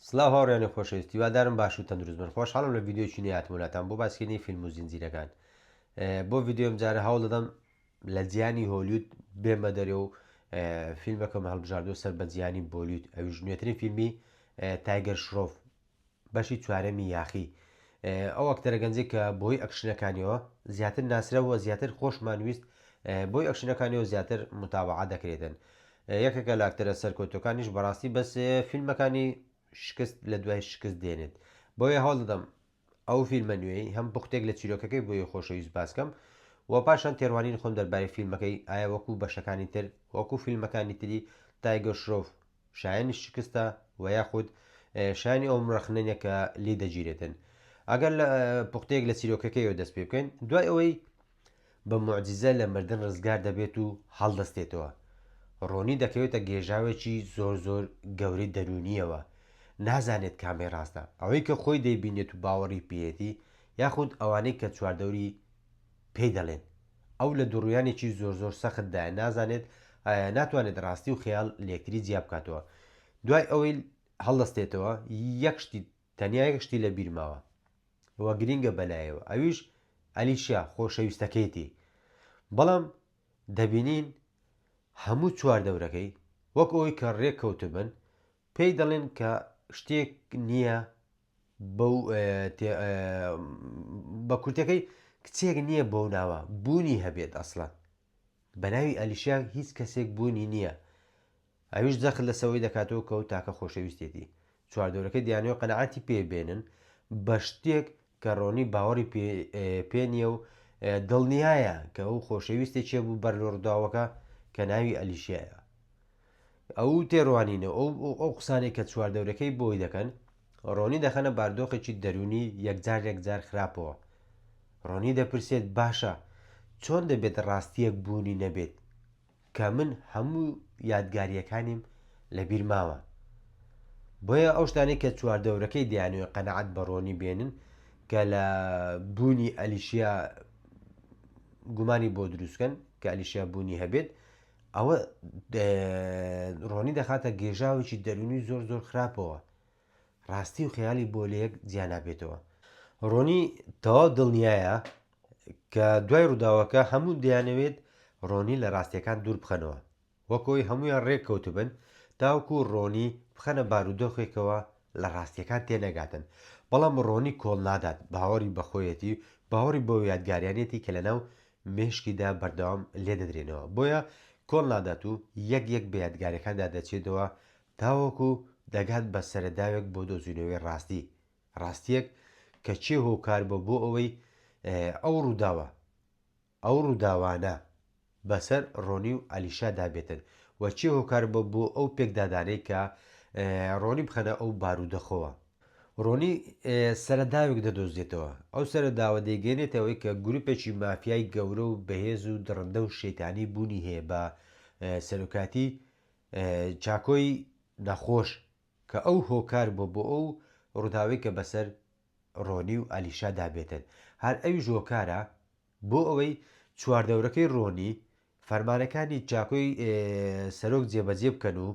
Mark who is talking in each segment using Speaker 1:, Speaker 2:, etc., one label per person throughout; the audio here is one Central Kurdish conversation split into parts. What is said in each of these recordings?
Speaker 1: سڵاو هاوڕێیانی خۆشەویست هیوادارم باش و تەندروست بن خۆشحاڵم لە ڤیدیۆیەکی نوێ هاتمە لاتان بۆ باسکردنی فیلم و زنجیرەکان بۆ ڤیدیۆ ئەمجارە هەوڵ دەدەم لە جیهانی هۆلیود بێمە دەرێ و فیلمەکەم هەڵبژاردووە سەر بە جیهانی بۆلیود ئەویش نوێترین فیلمی تایگەر شرۆف بەشی چوارەمی یاخی ئەو ئەکتەرە گەنجێک کە بۆی ئەکشنەکانیەوە زیاتر ناسرەوە زیاتر خۆشمانویست بۆی ئەکشنەکانیەوە زیاتر متابعا دەکرێتن یەکێکە لە ئەکتەرە سەرکەوتوەکانیش بەڕاستی بەس فیلمەکانی شکست لە دوای شکست دێنێت بۆیە هەوڵ دەدەم ئەو فیلمە نوێی هەم پوختێک لە چیرۆکەکەی بۆی خۆشەویست باسکەم و پاشان تێڕوانین خۆم دەربارەی فیلمەکەی ئایا وەکو بەشەکانی تر وەکو فیلمەکانی تری تایگەر شرۆڤ شایانی شکستە و یاخود شانی ئەوم ڕەخنێنە کە لی دەگیرێتن ئەگەر لە پوختێک لە چیرۆکەکەیەوە دەست پێ بکەین دوای ئەوەی بە موعجیزە لە مردن ڕزگار دەبێت و هەڵدەستێتەوە. ڕۆنی دەکەوێتە گێژاوێکی زۆر زۆر گەورەی دەروونییەوە، نازانێت کامەی ڕاستە، ئەوەی کە خۆی دەیبینێت و باوەڕی پێیەتی، یاخود ئەوانەی کە چواردەوری پێی دەڵێن. ئەو لە دووڕوویانێکی زۆر زۆر سەختدایە، نازانێت ئایا ناتوانێت ڕاستی و خەیاڵ لەیەکتری جیابکاتەوە. دوای ئەوەی هەڵدەستێتەوە، یەک شتی تەنیا یەک شتی لە بیر ماوە و گرینگە بەلایەوە ئەویش ئەلیشیا خۆشەویستەکەیەتی بەڵام دەبینین هەموو چوار دەورەکەی وەک ئەوی کە ڕێک کەوتبن پێی دەڵێن کە شتێک نییە بە کورتەکەی کچێک نییە بەو ناوە بوونی هەبێت ئەسڵان بەناوی ئەلیشیا هیچ کەسێک بوونی نییە ئەویش جەخت لەسەوەی دەکاتەوە کەو تاکە خۆشەویستیەتی چواردەورەکەی دیانەوەی قەناعەتی پێ بێنن بەشتێک کە ڕۆنی باوەڕی پێ نیە و دڵنیایە کە ئەو خۆشەویستە چێ بوو بەر لۆ ڕداوەکە کە ناوی ئەلیشیایە ئەو تێڕوانینە ئەو ئەو قسانێک کە چواردەورەکەی بۆی دەکەن ڕۆنی دەخەنە باردۆخێکی دەرونی یەکجار یەکجار خراپەوە ڕۆنی دەپرسێت باشە چۆن دەبێت ڕاستیەک بوونی نەبێت کە من هەموو یادگاریەکانیم لە بیر ماوە بۆیە ئەو شتانەی کە چواردەورەکەی دەیانوێ قەنەعەت بە ڕۆنی بێنن کە لە بوونی ئەلیشیا گومانی بۆ دروستکەن کە ئەلیشیا بوونی هەبێت ئەوە ڕۆنی دەخاتە گێژاوێکی دەرونی زۆر زۆر خراپەوە ڕاستی و خەیاڵی بۆ لەیەک جیا نابێتەوە. ڕۆنی تەواو دڵنیایە کە دوای ڕووداوەکە هەموو دەیانەوێت ڕۆنی لە ڕاستیەکان دوور بخەنەوە وەکۆی هەموویان ڕێک کەوتبن تاوکو ڕۆنی بخەنە بارودۆخێکەوە لە ڕاستیەکان تێنەگاتن بەڵام ڕۆنی کۆڵ نادات باوەڕی بە خۆیەتی و باوەڕی بەو یادگاریانەتی کە لەناو مێشکیدا بەردەوام لێدەدرێنەوە بۆیە کۆڵ نادات و یەک یەک بە یادگاریەکاندا دەچێتەوە تاوەکو دەگات بە سەرەداوێک بۆ دۆزینەوەی ڕاستی، ڕاستییەک کە چێ هۆکار بووە بۆ ئەوەی ئەو ڕووداوە، ئەو ڕووداوانە بەسەر ڕۆنی و ئەلیشادا بێتن و چێ هۆکار بووە بۆ ئەو پێکدادانەی کە ڕۆنی بخەنە ئەو بارودەخەوە. ڕۆنی سەرەداوێک دەدۆزێتەوە، ئەو سەرەداوە دەیگەیەنێتە ئەوەی کە گروپێکی مافیای گەورە و بەهێز و دڕندە و شەیتانی بوونی هەیە بە سەرۆکایەتی چاکۆی نەخۆش کە ئەو هۆکار بووە بۆ ئەو ڕووداوەی کە بەسەر ڕۆنی و ئالیشا دا بێتن، هەر ئەویش هۆکارە بۆ ئەوەی چواردەورەکەی ڕۆنی فەرمانەکانی چاکۆی سەرۆک جێبەجێ بکەن و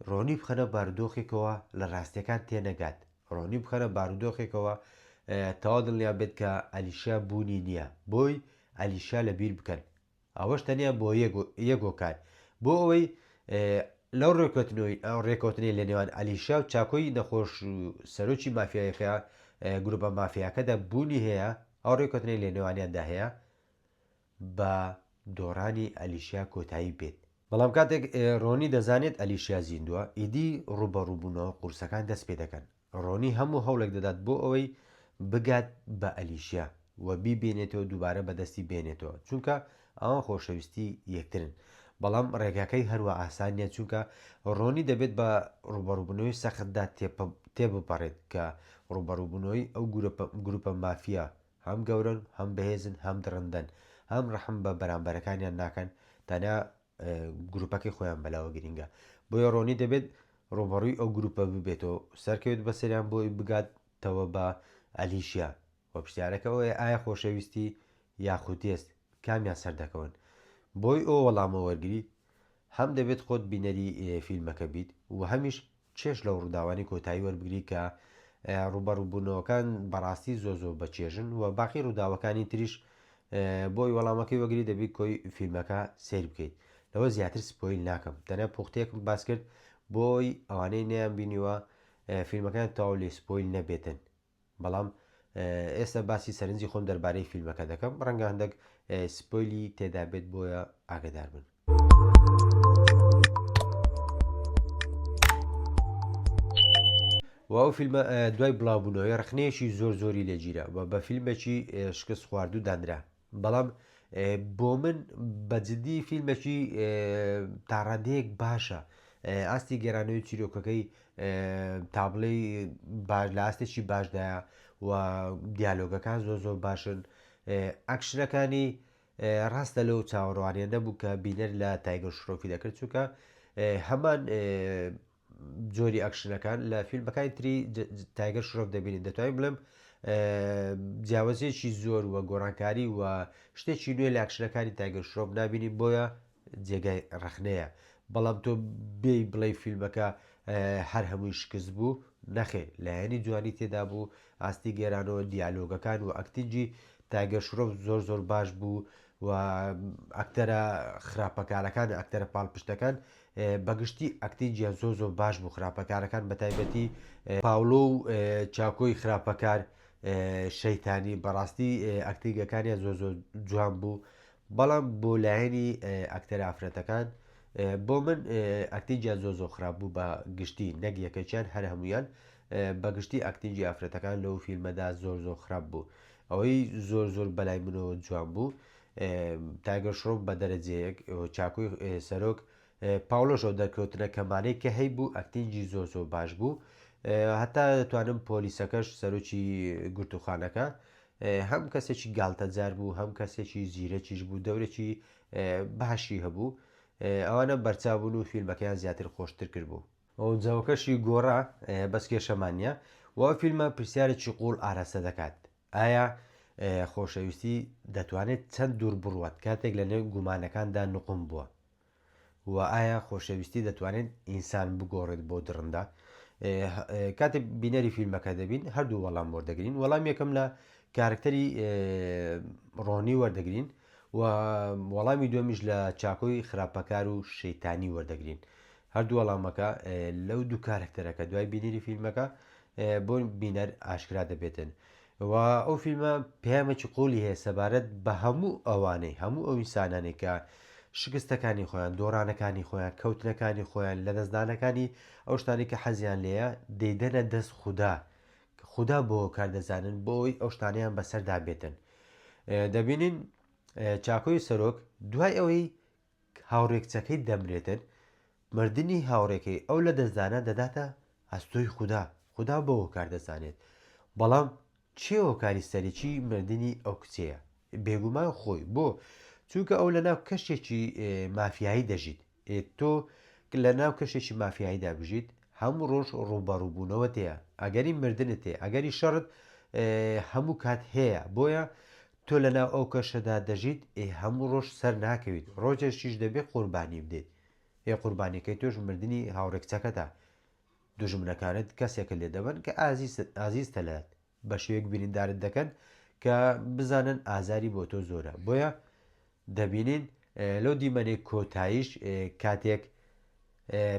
Speaker 1: ڕۆنی بخەنە بارودۆخێکەوە لە ڕاستیەکان تێ نەگات، ڕۆنی بخەنە بارودۆخێکەوە تەواو دڵنیا بێت کە ئالیشا بوونی نییە، بۆی ئالیشا لە بیر بکەن. ئەوەش تەنیا بۆ یەک هۆکار، بۆ ئەوەی لەو رێککەوتنەی لە نێوان ئەلیشا و چاکۆی نەخۆش و سەرۆکی مافیایەکە، گروپە مافیاکەدا بوونی هەیە، ئەو رێککەوتنەی لە نێوانیاندا هەیە، بە دۆڕانی ئەلیشا کۆتایی بێت. بەڵام کاتێک رۆنی دەزانێت ئەلیشا زیندووە، ئیدی رووبەڕووبوونەوە قورسەکان دەست پێدەکەن. ڕۆنی هەموو هەوڵێک دەدات بۆ ئەوەی بگات بە ئەلیشیا و بیبینێتەوە دووبارە بەدەستی بێنێتەوە چونکە ئەوان خۆشەویستی یەکترن بەڵام ڕێگاکەی هەروا ئاسان نیە چونکە ڕۆنی دەبێت بە ڕوبەڕوبنەوەی سەختدا تێبپەڕێت کە ڕوبەڕوبنەوەی ئەو گروپە مافیا هەم گەورەن هەم بەهێزن هەم دڕندەن هەم ڕەحم بە بەرامبەرەکانیان ناکەن تەنیا گروپەکەی خۆیان بەلاوە گرینگە بۆیە ڕۆنی دەبێت ڕوبەڕوی ئەو گروپە ببێتەوە سەرکەوێت بەسەریان بۆی بگات تەوە بە ئەلیشیا وە پرسیارەکەەوەی ئایا خۆشەویستی یاخودێست کامیان سەردەکەون بۆی ئەو وەڵامە وەرگری هەم دەبێت خۆت بینەری فیلمەکە بیت و هەمیش چێژ لەو ڕووداوانەی کۆتایی وەربگری کە ڕووبەڕووبوونەوەکان بەڕاستی زۆر زۆر بە چێژن و باقی ڕووداوەکانی تریش بۆی وەڵامەکەی وەگری دەبی کۆی فیلمەکە سیر بکەیت لەوە زیاتر سپۆیل ناکەم تەنە پوختێکم باس کرد بۆی ئەوانەی نیان بینیوە فیلمەکان تەواو لێ سپۆیل نەبێتن بەڵام ئێستا باسی سەرنجی خۆم دەربارەی فیلمەکە دەکەم ڕەنگە هەندەک سپۆیلی تێدا بێت بۆیە ئاگدار بن. و ئەو فیلمە دوای بڵاوبوونەوەی ڕخنەیەکی زۆر زۆری لێگیرا و بە فیلمێکی شکست خواردو دانرا بەڵام بۆ من بە جدی فیلمێکی تا ڕادەیەک باشە ئاستی گەرانەوەی چیرۆکەکەی تا بڵێی باش لە ئاستێکی باشدایە و دیالۆگەکان زۆر زۆر باشن ئەکشنەکانی ڕاستە لەو چاوەڕوانیە نەبوو کە بینەر لە تایگەر شرۆفی دەکرد چووکە هەمان جۆری ئەکشنەکان لە فیلمەکانی تری تایگەر شرۆڤ دەبینین دەتوانین بڵێم جیاوازیەکی زۆر وە گۆڕانکاری و شتێکی نوێ لە ئەکشنەکانی تایگەر شرۆڤ نبینین بۆیە جێگای ڕخنەیە بەڵام تۆ بێ بڵێ فیلمەکە هەر هەمووی شکست بوو نەخێ لایەنی جوانی تێدا بوو ئاستی گێرانەوە دیالۆگەکان و ئەکتنجی تایگەر شرۆڤ زۆر زۆر باش بوو و ئەکتەرە خراپەکارەکان ئەکتەرە پاڵپشتەکان بەگشتی ئەکتی جیان زۆر زۆر باش بوو خراپەکارەکان بەتایبەتی پاولۆ و چاکۆی خراپەکار شەیتانی بەڕاستی ئەکتینگەکانیان زۆر زۆر جوان بوو بەڵام بۆ لایەنی ئەکتەر ئافرەتەکان بۆ من ئەکتی جیان زۆر زۆر خراپ بوو بە گشتی نەک یەکەکیان هەر هەمویان بەگشتی ئەکتینجی ئافرەتەکان لەو فیلمەدا زۆر زۆر خراپ بوو ئەوەی زۆر زۆر بەلای منەوە جوان بوو تایگەر شرۆف بە دەرەجەیەک چاکوی سەرۆک پاوڵۆشەوە دەرکەوتنە کەمانەی کە هەی بوو ئەکتینگی زۆر زۆر باش بوو هەتا دەتوانم پۆلیسەکەش سەرۆکی گرتوخانەکە هەم کەسێکی گالتەجار بوو هەم کەسێکی زیرەکیش بوو دەورێکی باشی هەبوو ئەوانە بەرچاو بوون و فیلمەکەیان زیاتر خۆشتر کرد بوو ئەو جەوەکەشی گۆڕا بەس کێشەمان نیە و ئەو فیلمە پرسیارێکی قوڵ ئاراستە دەکات ئایا خۆشەویستی دەتوانێت چەند دوور بڕوات کاتێک لە نێو گومانەکاندا نقوم بووە و ئایا خۆشەویستی دەتوانێت ئینسان بگۆڕێت بۆ دڕندا کاتێ بینەری فیلمەکە دەبین هەردوو وەڵام وەردەگرین وەڵام یەکەم لە کارکتەری ڕۆنی وەردەگرین و وەڵامی دووەمیش لە چاکۆی خراپەکار و شەیتانی وەردەگرین هەردوو وەڵامەکە لەو دوو کارەکتەرەکە دوای بینەری فیلمەکە بۆ بینەر ئاشکرا دەبێتن و ئەو فیلمە پامێکی قۆلی هەیە سەبارەت بە هەموو ئەوانەی هەموو ئەو ئینسانانێک کە شکستەکانی خۆیان دۆڕانەکانی خۆیان کەوتنەکانی خۆیان لەدەستدانەکانی ئەو شتانی کە حەزیان لێە دەیدەنە دەست خوددا کە خودا بۆ هۆکار دەزانن بۆ ئەوەی ئەو شتانەیان بەسەردا بێتن. دەبینین چاکۆی سەرۆک دوای ئەوەی هاوڕێکچەکەی دەمرێتن مردنی هاوڕێکەی ئەو لە دەستدانە دەداتە ئەستۆی خودا خودا بۆ هۆکار دەزانێت بەڵام چێ هۆکاری سەرەکی مردنی ئەو کچەیە بێگومان خۆی بۆ چونکە ئەو لە ناو کەشێکی مافیایی دەژیت ئێ تۆ ک لە ناو کەشێکی مافیاییدا بژیت، هەموو ڕۆژ ڕووبەڕووبوونەوەت هەیە، ئەگەری مردنت هەیە، ئەگەری شەڕت هەموو کات هەیە، بۆیە تۆ لە ناو ئەو کەشەدا دەژیت، ئێ هەموو ڕۆژ سەر ناکەویت، ڕۆژێکیش دەبێ قوربانی بدەیت، ئێ قوربانیەکەی تۆش مردنی هاوڕێ کچەکەتە، دوژمنەکانت کەسێکت لێ دەبەن ک ئازیزتە لایان. بەشێوەیەک بریندارت دەکەن کە بزانن ئازاری بۆ تۆ زۆرە بۆیە دەبینین لەو دیمەنەی کۆتاییش کاتێک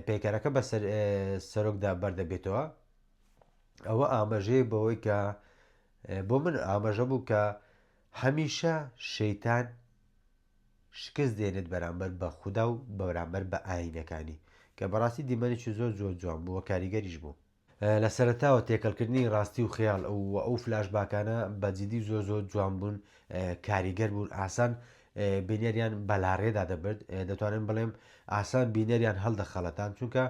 Speaker 1: پەیکەرەکە بە سەرۆکدا بەردەبێتەوە ئەوە ئاماژەیە بەوەی کە بۆ من ئاماژە بوو کە هەمیشە شەیتان شکست دێنێت بەرامبەر بە خودا و بەرامبەر بە ئاینەکانی کە بەڕاستی دیمەنێکی زۆر زۆر جوان بووە کاریگەریش بوو لە سەرەتاوە تێکەڵ کردنی ڕاستی و خەیاڵ و ئەو فلاش باکانە بە جیدی زۆر زۆر جوان بوون کاریگەر بوون ئاسان بینەریان بەلاڕێدا دەبرد دەتوانم بڵێم ئاسان بینەریان هەڵدەخەڵەتان چونکە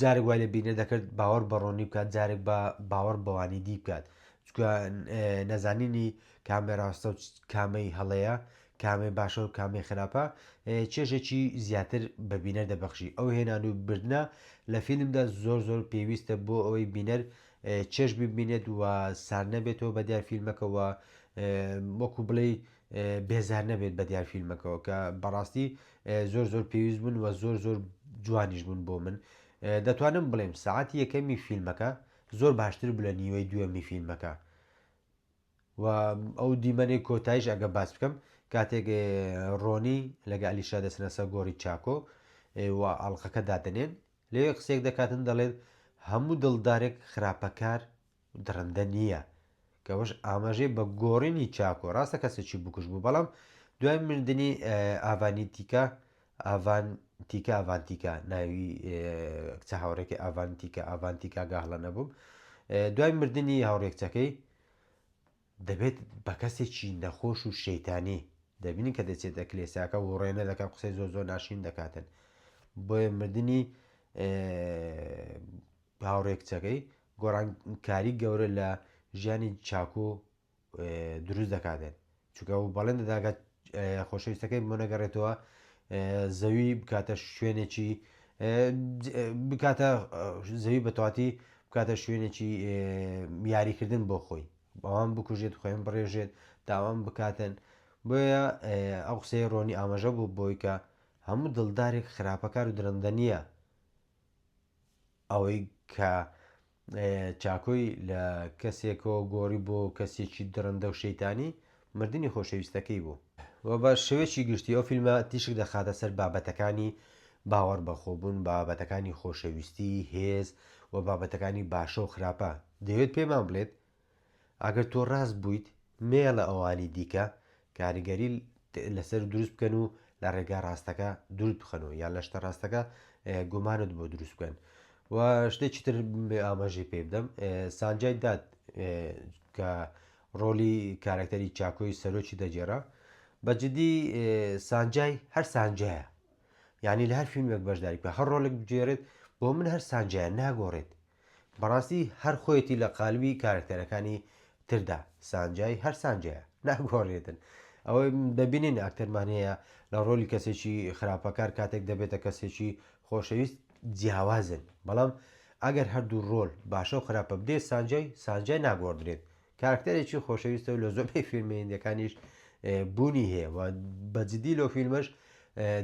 Speaker 1: جارێک وای لە بینە دەکرد باوەڕ بەڕۆنی بکات جارێک بە باوەڕ بەوانی دی بکات چکە نەزانینی کامێراستە و کامەی هەڵەیە کامەی باشە و کامەی خراپە چێژێکی زیاتر بە بینەر دەبەخشی ئەو هێنان و بردنە لە فیلمدا زۆر زۆر پێویستە بۆ ئەوەی بینەر چێژ ببینێت و سار نەبێتەوە بە دیار فیلمەکەەوە وەکو بڵێ بێزار نەبێت بە دیار فیلمەکەەوە کە بەڕاستی زۆر زۆر پێویست بوون و زۆر زۆر جوانیش بوون بۆ من دەتوانم بڵێم سعاتی یەکەمی فیلمەکە زۆر باشتر بلە نیوەی دووەمی فیلمەکە و ئەو دیمەنەی کۆتایش ئەگە باس بکەم کاتێک ڕۆنی لەگە ئەلیشا دەسنەسە گۆری چاکۆ و ئاڵلقەکە دادنێن لەوێ قسێک دەکاتن دەڵێن هەموو دڵدارێک خراپەکار دڕندە نییە کەەوەش ئاماژەی بە گۆڕینی چاکۆ ڕاستە کەسێکی بکوش بوو بەڵام دوای مردنی ئاڤانی تیکە ئاڤان تیکە ئاڤانتیکە ناوی کچە هاوڕێکی ئاڤانتیکە ئاڤانتیکا گاهڵە نەبووم دوای مردنی هاوڕێکچەکەی دەبێت بە کەسێکی نەخۆش و شەیتانی دەبینن کە دەچێتە کلێساکە وڕێ نەدەکەن قسەی زۆر زۆر ناشرین دەکاتن بۆیە مردنی هاوڕێ کچەکەی گۆڕانکاری گەورە لە ژیانی چاکو دروست دەکاتێت چونکە ئەو بەڵێن دەدا کە خۆشەویستەکەی بۆ نەگەڕێتەوە زەوی بکاتە شوێنێکی بکاتە زەوی بەتواتی بکاتە شوێنێکی یاریکردن بۆ خۆی بەوان بکوژێت خۆیان بڕێژێت داوام بکاتن بۆیە ئەو قسەی ڕۆنی ئاماژە بوو بۆی کە هەموو دڵدارێک خراپەکار و درەندە نییە ئەوەی کە چاکۆی لە کەسێکەوە گۆڕی بۆ کەسێکی دڕندە و شەیتانی، مردنی خۆشەویستەکەی بوو. و بە شێوەیەکی گشتی ئەو فیلمە تیشک دەخاتە سەر بابەتەکانی باوەڕ بە خۆ بوون، بابەتەکانی خۆشەویستی، هێز، و بابەتەکانی باشە و خراپە. دەیەوێت پێمان بڵێت ئەگەر تۆ ڕاست بوویت، نەیەڵە ئەوانی دیکە کاریگەری لەسەر دروست بکەن و لە ڕێگا ڕاستەکە دوورت بخەن و یان لە شتە ڕاستەکە گومانت بۆ دروست بکەن. و شتێکی تر ئاماژەی پێ بدەم، سانجای دات کە ڕۆلی کارەکتەری چاکۆی سەرۆکی دەگێڕا، بە جدی سانجای هەر سانجایە، یانی لە هەر فیلمێک بەشداری بکە هەر ڕۆلێک بگێڕێت بۆ من هەر سانجایە ناگۆڕێت، بەڕاستی هەر خۆیەتی لە قالبی کارەکتەرەکانی تردا سانجای هەر سانجایە ناگۆڕێتن ئەوەی دەبینین ئاکتەرمان هەیە لە ڕۆلی کەسێکی خراپەکار کاتێک دەبێتە کەسێکی خۆشەویست جیاوازن بەڵام ئەگەر هەردوو ڕۆل باشە و خراپە بدێت سانجای سانجای ناگۆڕدرێت کارکتەرێکی خۆشەویستە و لە زۆربەی فیلمێندەکانیش بوونی هەیە و بەجددی لەو فیلمەش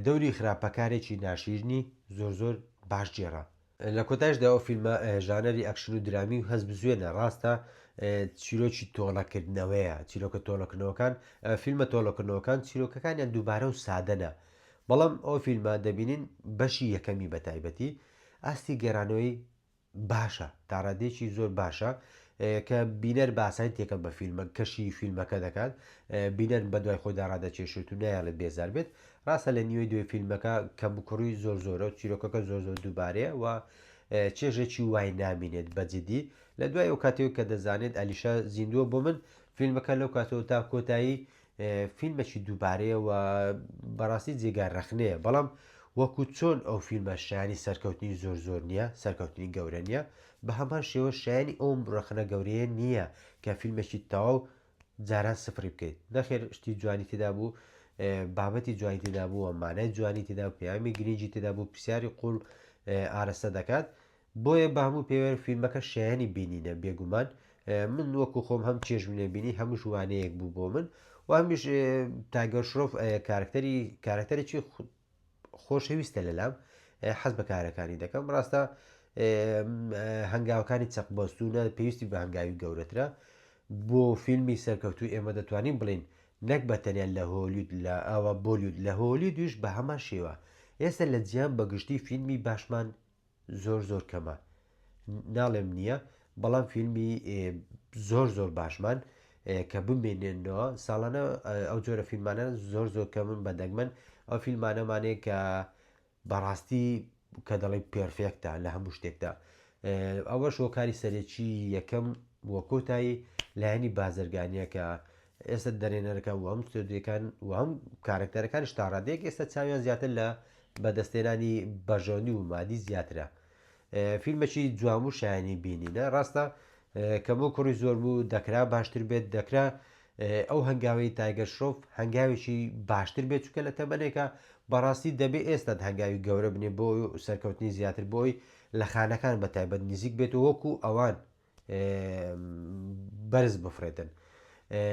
Speaker 1: دەوری خراپەکارێکی ناشیرنی زۆر زۆر باش جێرا لە کۆتایشدا ئەو فیلمە ژانەری ئەکشن و درامی و هەستبزوێنە، ڕاستە چیرۆکی تۆڵەکردنەوەیە، چیرۆکە تۆڵەکردنەوەکان، فیلمە تۆڵەکردنەوەکان چیرۆکەکانیان دووبارە و سادەنە، بەڵام ئەو فیلمە دەبینین بەشی یەکەمی بە تایبەتی ئاستی گێرانەوەی باشە، تا ڕادەیەکی زۆر باشە کە بینەر بە ئاسانی تێکەڵ بە فیلمە کەشی فیلمەکە دەکات، بینەر بەدوای خۆیدا ڕادەکێشێت و نایەڵێت بێزار بێت، ڕاستە لە نیوەی دوێ فیلمەکە کەموکوڕی زۆر زۆرە و چیرۆکەکە زۆر زۆر دووبارەیە و چێژێکی وای نامینێت بە جدی لە دوای ئەو کاتێک کە دەزانێت ئەلیشا زیندووە بۆ من فیلمەکە لەو کاتەوە تا کۆتایی فیلمەکی دووبارەیە و بەڕاستی جێگای ڕەخنەیە بەڵام وەکو چۆن ئەو فیلمە شایانی سەرکەوتنی زۆر زۆر نییە سەرکەوتنی گەورە نییە بە هەمان شێوە شایانی ئەوم ڕەخنە گەورەیە نییە کە فیلمێکی تەواو جاران سفری بکەیت نەخێر شتی جوانی تێدا بوو بابەتی جوانی تێدا بووە مانای جوانی تێدا پەیامی گرنگی تێدا بوو پرسیاری قوڵ ئارەستە دەکات بۆیە بە هەموو پێوەر فیلمەکە شایانی بینینە بێگومان من وەکو خۆم هەم چێژم لێ بینی هەموو ژوانەیەک بوو بۆ من و هەمیش تاگەر شرۆف کارکتەری کارکتەرێکی خۆشەویستە لەلام حەز بە کارەکانی دەکەم ڕاستە هەنگاوەکانی چەق بەستونە پێویستی بە هەنگاوی گەورەترە بۆ فیلمی سەرکەوتو ئێمە دەتوانین بڵین نەک بە تەنیا لە هۆلیود لە ئاوا بۆلیود لە هۆلی دوش بە هەمان شێوە ئێستا لە جیان بەگشتی فیلمی باشمان زۆر زۆر کەمە ناڵێم نیە بەڵام فیلمی زۆر زۆر باشمان کە بمێنێنەوە ساڵانە ئەو جۆرە فیلمانە زۆر زۆر کە من بە دەگمەن ئەو فیلمانەمانەیە کە بەڕاستی کە دەڵی پێرفێکتە لە هەموو شتێکدا ئەوە شۆکاری سەرەکی یەکەم وە کۆتایی لایەنی بازرگانیەکە ئێستا دەرێنەرەکان وهەموو ستۆدیۆکان وهەموو کارەکتەرەکانیش تاڕادەیەک ئێستا چاویان زیاتر لە بەدەستێنانی بەژەنی و مادی زیاترە فیلمەکی جوام و شایانی بینینە ڕاستە کەم و کوڕی زۆر بوو دەکرا باشتر بێت دەکرا ئەو هەنگاوی تایگە شۆف هەنگاوێکی باشتر بێت چکە لە تەمەنێکە بەڕاستی دەبێ ئێستا هەنگاوی گەورە بنێ بۆ سەرکەوتنی زیاتر بۆی لە خانەکان بە تایبەت نزیک بێت و وەکو ئەوان بەرز بفرێتن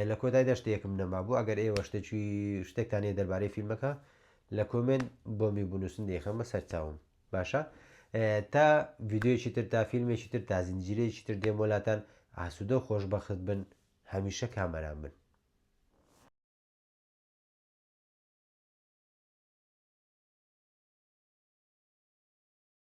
Speaker 1: لە کۆتایدا شتێکم نەمابوو ئەگەر ئێوە شتێکی شتێکتانێ دەربارەی فیلمەکە لە کۆمنت بۆمی بنووسن دەیخەمە سەر چاوم باشە تا ویددیویی تر تا فیلمێکی تر تا زنجیرێکی تر دێم وەلاتان ئاسوودە و خۆشببخت بن هەمیشە کامەران بن